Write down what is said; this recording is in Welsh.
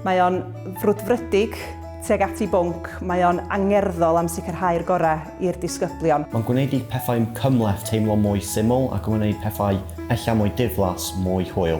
Mae o'n frwdfrydig, teg at ei bwnc, mae o'n angerddol am sicrhau'r gorau i'r disgyblion. Mae'n gwneud i pethau cymhleth teimlo mwy syml ac yn gwneud pethau ella mwy diflas mwy hwyl.